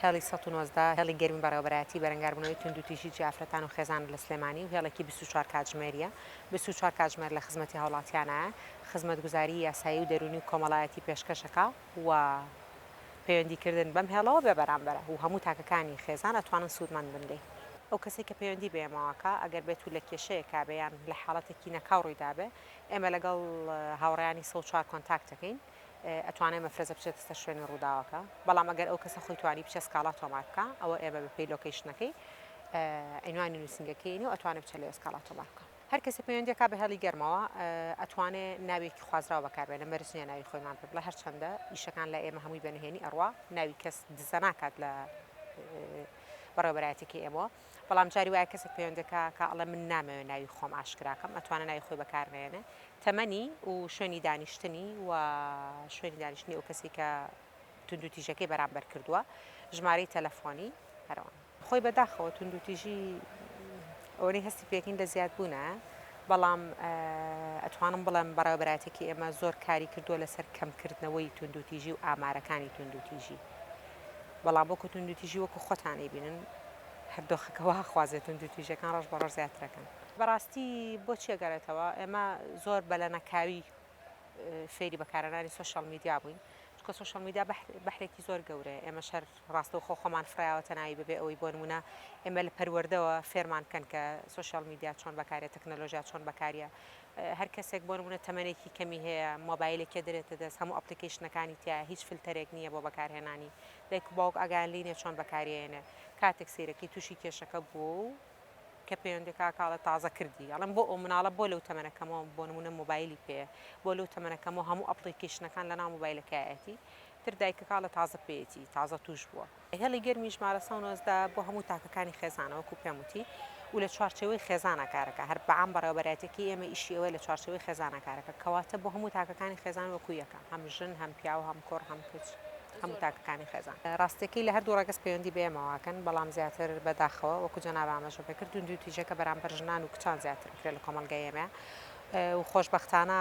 هێڵی سەد و نۆزدە، هێڵی گەرمی بەڕێوەبەرایەتی بەرەنگاربوونەوەی توندوتیژیی ئافرەتان و خێزان لە سلێمانی و هێڵێکی بیست و چوار کاتژمێرییە، بیست و چوار کاتژمێر لە خزمەتی هاوڵاتیانایە، خزمەتگوزاریی یاسایی و دەروونی و کۆمەڵایەتی پێشکەشەکا. و پەیوەندی کردن بەم هێڵەوە بێ بەرامبەرە و هەموو تاکەکانی خێزان ئەتوانن سوودمەند بن لێی. ئەو کەسەی کە پەیوەندی بە ئێمەوە کا ئەگەر بێت و لە کێشەیەکا بێ یان لە حاڵەتێکی نەکاو ڕوویدا بێ ئێمە لەگەڵ هاوڕێیانی سەد و چوار کۆنتاکت دەکەین ئەتوانێ مەفرەزە بچێتە سەر شوێنی ڕووداوەکە بەڵام ئەگەر ئەو کەسە خۆی توانی بچێ سکاڵا تۆمار بکا ئەوە ئێمە بە پێی لۆکەیشنەکەی عینوانی نووسینگەکەی ئەینێ و ئەتوانێ بچێ لەوێ سکاڵا تۆمار بکا. هەر کەسێ پەیوەندی کا بە هێڵی گەرمەوە ئەتوانێ ناوێکی خوازراو بەکاربێنە مەرج نیە ناوی خۆیمان پێ بڵێ هەرچەندە ئیشەکان لە ئێمە هەمووی بە نهێنی ئەڕوا ناوی کەس دزە ناکات لە بەڕێوبەرایەتێکی ئێمەوە بەڵام جاری وایە کەسێک پەیوەندەکە کە ئەڵێ من نامەوێت ناوی خۆم ئاشکراکەم ئەتوانە ناوی خۆی بەکارنێنێ تەمەنی و شوێنی دانیشتنی و شوێنی دانیشتنی ئەو کەسی کە توندو تیژەکەی بەرامبەر کردووە ژمارەی تەلەفۆنی هەرەوە خۆی بەداخەوە توندوتیژی ئەوەنەی هەستی پێکەین لە زیاد بوونە بەڵام ئەتوانم بڵێم بەڕێوەبەرایەتێکی ئێمە زۆر کاری کردووە لەسەر کەمکردنەوەی توندوتیژی و ئامارەکانی توندوتیژی بەڵام وەکو توندوتیژی وەکو خۆتانی بینن هەردۆخەکەەوە هەخوازێت توندوتیژەکان ڕۆژ بە ڕۆژ زیاترەکەن بەڕاستی بۆ چێگەرێتەوە ئێمە زۆر بەلەنەکاوی فێری بەکارەنانی سوۆشال میدیا بووین چکە سوۆشال میدیا بەحرێکی زۆر گەورەیە ئێمە شەر ڕاستەوخۆ خۆمان فڕیاوەتە ناوی بەبێ ئەوەی بۆ نموونە ئێمە لە پەروەردەوە فێرمان بکەن کە سۆشیاڵ میدیا چۆن بەکاریە تەکنەلۆژیا چۆن بەکاریە هەر کەسێک بۆ نموونە تەمەنێکی کەمی هەیە مۆبایلێکێ دەرێتە دەست هەموو ئەپلیکەیشنەکانی تیایە هیچ فلتەرێک نییە بۆ بەکارهێنانی دایک و باوک ئاگایان لێی نیە چۆن بەکاریەیەنێ کاتێک سەیرەکەی تووشی کێشەکە بووە و کە پەیوەندی کاکە ئەڵێ تازە کردی ئەڵێم بۆ ئەو مناڵە بۆ لەو تەمەنە کەمەوە بۆ نموونە مۆبایلی پێیە بۆ لەو تەمەنە کەمەوە هەموو ئەپڵیکەیشنەکان لەناو مۆبایلەکەیەتی تر دایکە کاڵە تازە پێیەتی تازە توش بووە هێڵی گەرمی ژمارە سەد و نۆزدە بۆ هەموو تاکەکانی خێزانە وەکو پێم وتی و لە چوارچێوەی خێزانە کارەکە هەر بەعام بەڕێوەبەرایەتێکی ئێمە ئیشی ئەوەیە لە چوارچێوەی خێزانە کارەکە کەواتە بۆ هەموو تاکەکانی خێزان وەکو یەکە هەم ژن هەم پیاو هەم کوڕ هەم کچ هەموو تاکەکانی خێزان ڕاستەکەی لە هەردوو ڕەگەز پەیوەندی بە ئێمەواکەن بەڵام زیاتر بەداخەوە وەکو جەنابە ئاماژە پێکردون دوو تیژەکە بەرامبەر ژنان و کچان زیاتر بکرێت لە کۆمەڵگای ئێمە و خۆشبەختانە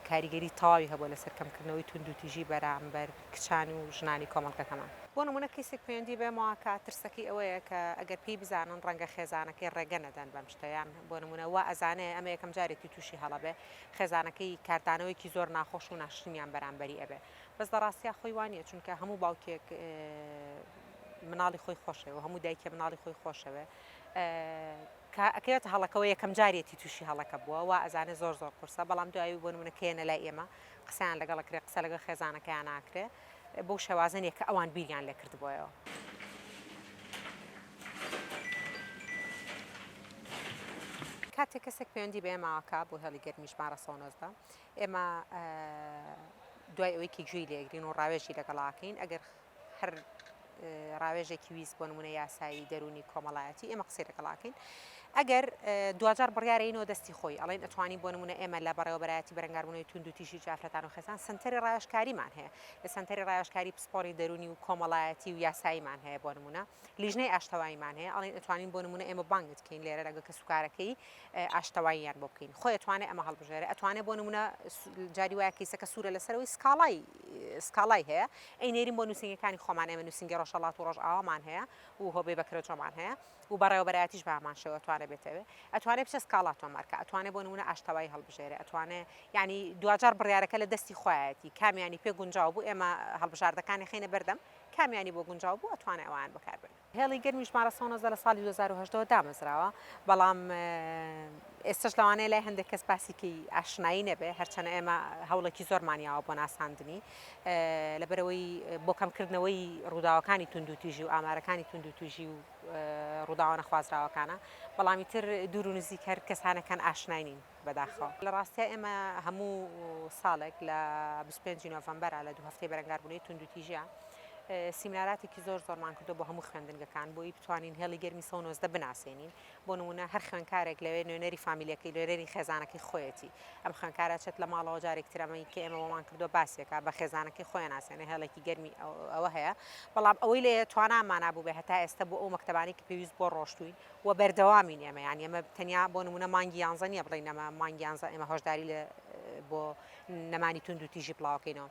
کاریگەری تەواوی هەبووە لەسەر کەمکردنەوەی توندوتیژی بەرامبەر کچان و ژنانی کۆمەڵگەکەمان. بۆ نموونە کەیسێک پەیوەندی بەمەوە کات ترسەکەی ئەوەیە کە ئەگەر پێی بزانن ڕەنگە خێزانەکەی ڕێگە نەدەن بەم شتە یان بۆ نموونە وا ئەزانێ ئەمە یەکەم جارێتی تووشی هەڵە بێ خێزانەکەی کاردانەوەیەکی زۆر ناخۆش و ناشرینیان بەرامبەری ئەبێ بەس لە ڕاستیا خۆی وا نییە چونکە هەموو باوکێک مناڵی خۆی خۆشەوێ و هەموو دایکێ مناڵی خۆی خۆشەوێ کە ئەکەوێتە هەڵەکەوە یەکەم جاریەتی توشی هەڵەکە بووە وا ئەزانێ زۆر زۆر قورسە بەڵام دوایی بۆ نمونە کە یەنە لای ئێمە قسەیان لەگەڵ ئەکرێ قسە لەگەڵ خێزانەکەیان ناکرێ بەو شێوازە نیە کە ئەوان بیریان لێ کردبۆیەوە. کاتێ کەسێک پەیوەندی بە ئێمە ئاکا بۆ هێڵی گەرمی ژمارە سەد و نۆزدە ئێمە دوای ئەوەی کە گوێی لێگرین و ڕاوێژی لەگەڵاکەین ئەگەر هەر ڕاوێژێکی ویست بۆ نمونە یاسایی دەرونی کۆمەڵایەتی ئێمە قسەی لەگەڵاکەین ئەگەر دواجار بڕارینەوە دەستی خۆی ئەڵێن ئەتوانی بۆ نمونە ئێمە لە بەڕێوەبەتی بەرەنگاربوونەوەی تونند و تیشی جافرەتان و خێزان سنتەری ڕاوشکاریمان هەیە لە سنتەری ڕاوشکاری پسپۆری دەرونی و کۆمەڵایەتی و یاساییمان هەیە بۆ نمونە لیژنەی ئاشتەواییمان هەیە ئەڵێن ئەتوانین بۆ نمونە ئێمە بانگت کەین لێرە لەگە کە سوکارەکەی ئاشتەواییان بۆ بکەین خۆی توانێت ئەمە هەڵبژێرە ئەتوانێت بۆ نمونە جاری وایە کەیسەکە سوورە لەسەرەوەی سکاڵای سکاڵای هەیە ئەینێرین بۆ نووسینگەکانی خۆمان ئێمە نووسینگە ڕۆژهەڵات و ڕۆژئاوامان هەیە و هۆبێ بەکرەجۆمان هەیە و بەڕێوەبەرایەتیش بامان شێوە توانێ بێتەوێ ئەتوانێ بچە سکاڵا تۆمارکە ئەتوانێ بۆ نمونە ئاشتەوایی هەڵبژێرە ئەتوانێ ینی دواجار بڕارەکە لە دەستی خۆیەتی کامیانی پێ گونجاو بوو ئێمە هەڵبژاردەکانی خینە بەردەم کامیانی بۆ گونجاو بوو ئەتوانێ ئەوان بەکاربێن هێڵی گەرمی ژمارە سەد و نۆزدە لە ساڵی دوو هەزار و هەژدە وە دامەزراوە، بەڵام ئێستەش لەوانەیە لای هەندێک کەس باسی پێی ئاشنایی نەبێت، هەرچەنە ئێمە هەوڵێکی زۆرمان یاوە بۆ ناساندنی، لەبەرئەوەی بۆ کەمکردنەوەی ڕووداوەکانی توندوتیژی و ئامارەکانی توندوتیژی و ڕووداوە نەخوازراوەکانە، بەڵام ئیتر دوور و نزیک هەر کەسانەکان ئاشنای نین. بەداخەوە لە ڕاستیا ئێمە هەموو ساڵێک لە بیست و پێنج ی نۆڤەمبەرا لە دوو هەفتەی بەرەنگاربوونەی توندوتیژییا سیمیناراتێکی زۆر زۆرمان کردووە بۆ هەموو خوێندنگەکان بۆی بتوانین هێڵی گەرمی سەد و نۆزدە بناسێنین بۆ نموونە هەر خوێندکارێک لەوێ نوێنەری فامیلەکەی نوێنەری خێزانەکەی خۆیەتی ئەم خوێندکارە چێت لە ماڵەوە جارێکی تر ئەمەی کە ئێمە بۆمان کردووە باسێک کات بە خێزانەکەی خۆیان ناسێنێ هێڵێکی گەرمی ئەوە هەیە بەڵام ئەوەی لێ توانامانا بووبێ هەتا ئێستا بۆ ئەو مەکتەبانەی کە پێویست بۆ ڕۆشتووین و بەردەوامین ئێمە یان ئێمە تەنیا بۆ نمونە مانگی یانزە نیە بڵێین ئەمە مانگی یانزە ئێمە هۆشداری لە بۆ نەمانی توند و تیژی بڵاوکەینەوە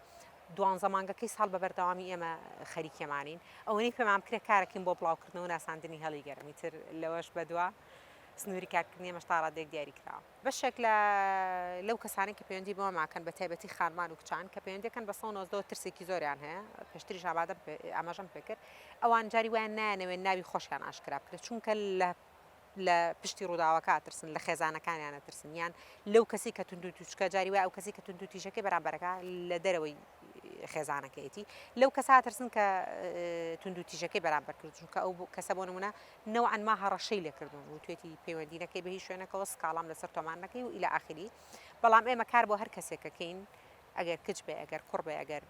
دوانزە مانگەکەی ساڵ بە بەردەوامی ئێمە خەریکێمانین ئەوەی پێمان کرێ کارەکەین بۆ بڵاوکردنەوە ناساندنی هەڵی گەرمی تر لەوەش بەدووە سنووری کارکردنی مەشتاڕادێک دیاری کراوە بەشێک لە لەو کەسانەی کە پەیوەندی بەوە ماکەن بە تایبەتی خانمان و کچان کە پەیوەندیەکەن بە 190 ترسێکی زۆریان هەیە پێشتریش ئامادە ئاماژەم پێکرد ئەوان جاری وایان نایەنەوێت ناوی خۆشیان ئاشکرا بکرێت چونکە لە لە پشتی ڕووداوەکە ترسن لە خێزانەکانیانە ترسنیان لەو کەسی کە تونند و توچکە جاری وای ئەو کەسی کە تونند و تیژەکەی بەرامبەرەکە لە دەرەوەی خێزانەکەیەتی لەو کەسا ترسن کە تونند و تیژەکەی بەرامبەر کرد چونکە ئەو کەسە بۆ نمونە نەوعەن ما هەڕەشەی لێکردوون وتوێتی پەیوەندی نەکەی بە هیچ شوێنەکەوە سکاڵام لەسەر تۆمار نەکەی و ئیلا ئاخری بەڵام ئێمە کار بۆ هەر کەسێکەکەین ئەگەر کچ بێ ئەگەر کوڕ بێ ئەگەر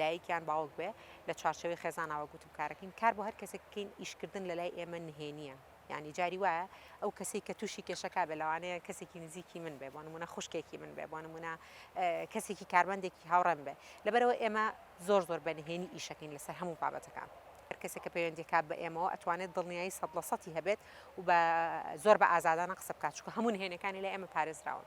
دایکیان باوک بێ لە چارچەوەی خێزانەوە گوتم کارەکەین کار بۆ هەر کەسێککەین ئیشکردن لە لای ئێمە نهێنیە ینی جاری وایە ئەو کەسی کە تووشی کێشەکە بێ لەوانەیە کەسێکی نزیکی من بێ بۆ نمونە خوشکێکی من بێ بۆ نمونە کەسێکی کارمەندێکی هاوڕێن بێ لەبەرەوە ئێمە زۆر زۆر بەنهێنی ئیشەکەین لەسەر هەموو بابەتەکان هەر کەسێک کە پەیوەندی کات بە ئێمەوە ئەتوانێت دڵنیایی سەد لە سەتی هەبێت و بە زۆر بە ئازادانە قسە بکات چونکە هەموو نهێنیەکانی لای ئێمە پارێزراون.